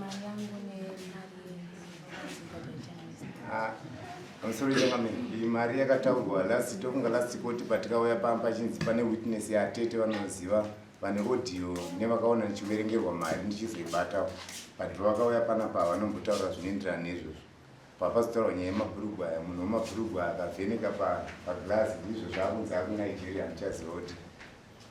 Mari yangu nemari Ah, I'm sorry chairman, iyi mari yakataurwa last tokunga last court patikauya pamba pachinzi pane witness yatete vanoziva vane audio nevakaona ndichiverengerwa mari ndichizoibatawo but pavakauya panapa havanombotaura zvinoenderana nezvozvo papazotaurwa nyaya yemabhurugwa aya munhu wemabhurugwa akavheneka paglass ndizvo zvaakunzi aku nigeria handichaziva kuti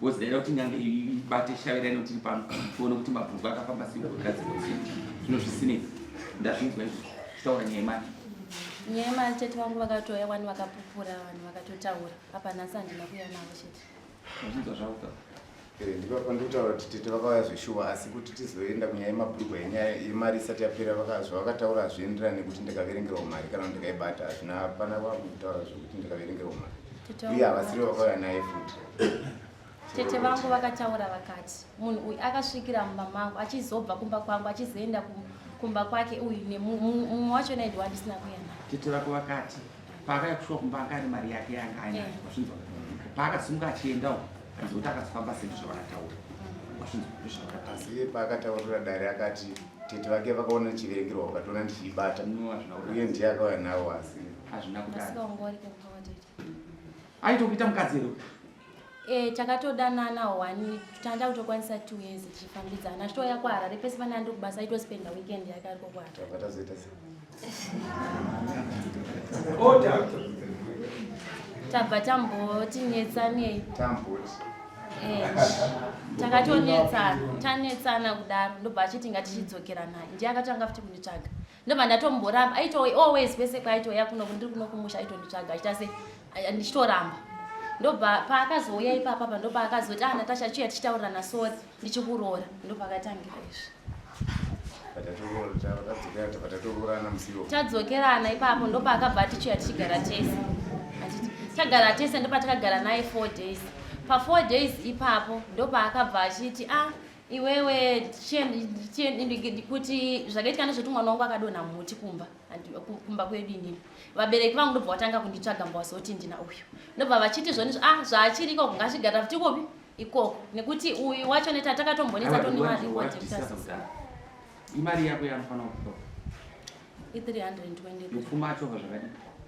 Because ndaida kuti nyange ibate shave raino tiri pano tione kuti mabhuku akafamba sei kugadzirwa sei zvino zvisinei ndazvinzwa izvo zvitaura nyaya yemari nyaya yemari chete vangu vakatouya wani vakapupura vanhu vakatotaura apa nhasi handina kuuya navo chete ndazvinzwa zvavo ka eh, ndipapa ndikutaura kuti tete vakauya zveshuwa asi kuti tizoenda kunyaya yemabhurugwa yenyaya yemari isati yapera zvavakataura hazvienderani nekuti ndikaverengerwa mari kana kuti ndikaibata hazvina hapana vangu kutaura zvekuti ndikaverengerwa mari uye havasiri vakauya naye futi tete vangu vakataura vakati munhu uyu akasvikira mumba mangu achizobva kumba kwangu achizoenda kumba kwake uyu nemumwe wacho naidi wandisina kuenda tete vako vakati paakaya kusvika kumba anga ane mari yake yanga ainayo eh. wazvinzwa paakasimuka achiendawo anzi kuti akazofamba sendo zvavakataura mm. wazvinzwa ndozvavakataura asi paakataurira dare akati tete vake vakaona chiverengerwa ukatoona ndichiibata uye ndiye akauya nawo asi hazvina kudai aitokuita mukadzi here e, takatodanana wani tanda kutokwanisa two years tichifambidzana achitouya kuharare pese pane andiri kubasa aitospenda weekend yake ariko kuharare tabva tamboti netsanei eh, takatonetsana tanetsana kudaro ndobva achiti ngatichinzokera naye ndiye akatanga futi kunditsvaga ndobva ndatomboramba aito always kwese kwaitouya kuno ndiri kuno kumusha aitonditsvaga achita se ndichitoramba ndobva paakazouya ipapa pa ndobva akazoti ana ah, tasha chiya tichitaurirana sori ndichikuroora ndopakatangira izvi tadzokerana ipapo ndopaakabva atichiya tichigara tese tagara tese ndopatakagara naye four days pafour days ipapo ndopaakabva achiti a ah, iwewe kuti zvakaitwa nezvekuti mwana wangu akadonha muti kumba kumba kwedu inini vabereki vangu ndobva vatanga kunditsvaga mba wazoti ndina uyu ndobva vachiti zvoni a ah, zvaachiri ikoko ngazvigara futi ikopi ikoko nekuti uyu wacho neta takatombonetsa tonemarioimari yako yanofanira kutoa i320 yopfuma achova zvakadii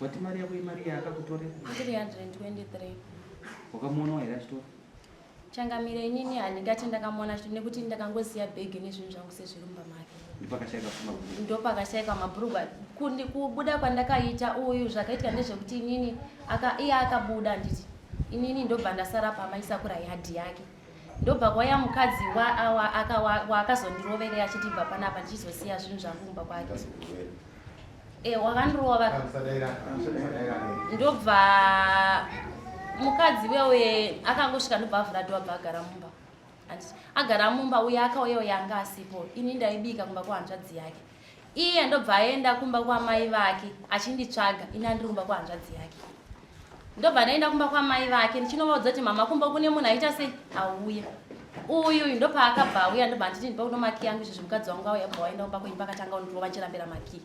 Wati mari yako imari yaakakutorera? 323. Wakamuonawo here achitora? Changamire inini handingati ndakamuona achitora nekuti ndakangoziva bhegi nezvinhu zvangu sezviri mumba make. Ndopakashaika pfuma bhurugwa. Ndopakashaika mabhurugwa. Kundi kubuda kwandakaita uyu zvakaitika ndezvekuti inini aka iye akabuda handiti. Inini ndobva ndasara pama isakura yadhi yake. ndobva kwaya mukadzi waakazondiroverei achiti bva panapa ndichizosiya zvinhu zvangu kumba kwake e eh, wakandirova ndobva mukadzi wewe akangosvika ndobva avhura dova bva agara mumba agara mumba uye akauyewo yanga asipo ini ndaibika kumba kwahanzvadzi yake iye ndobva aenda kumba kwamai vake achinditsvaga ini andiri kumba kwahanzvadzi yake ndobva ndaenda kumba kwamai vake ndichinovaudza kuti mama kumba kune munhu aita sei auya uyu uyu ndopaakabva auya ndobva nditi ndipa kuno maki yangu izvo zvemukadzi wangu auya bva waenda kumba kwenyu pakatanga undirova achirambira maki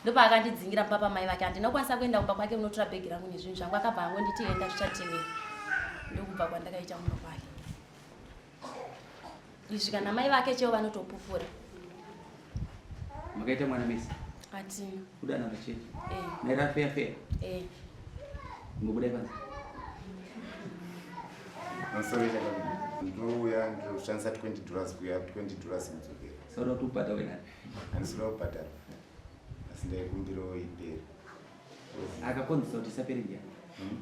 ndopaakandidzingira mumba pamai vake handinokwanisa kuenda kumba kwake unotora bhegi rangu nezvinhu zvangu akabva angonditi enda zvichateera ndokubva kwandakaita kumba kwake izvi kana mai vake cheo vanotopupura makaita mwana mese atina kudana vacheche eh. naira feya feya eh. ngobudai panze ndouya ndoshandisa 20 dollars kuya 20 dollars kudzokera sauda kuti ubhata wena andisida kubhadhara asi ndaikumbirawo iperi akakonzesa kuti isapere ndiani hmm?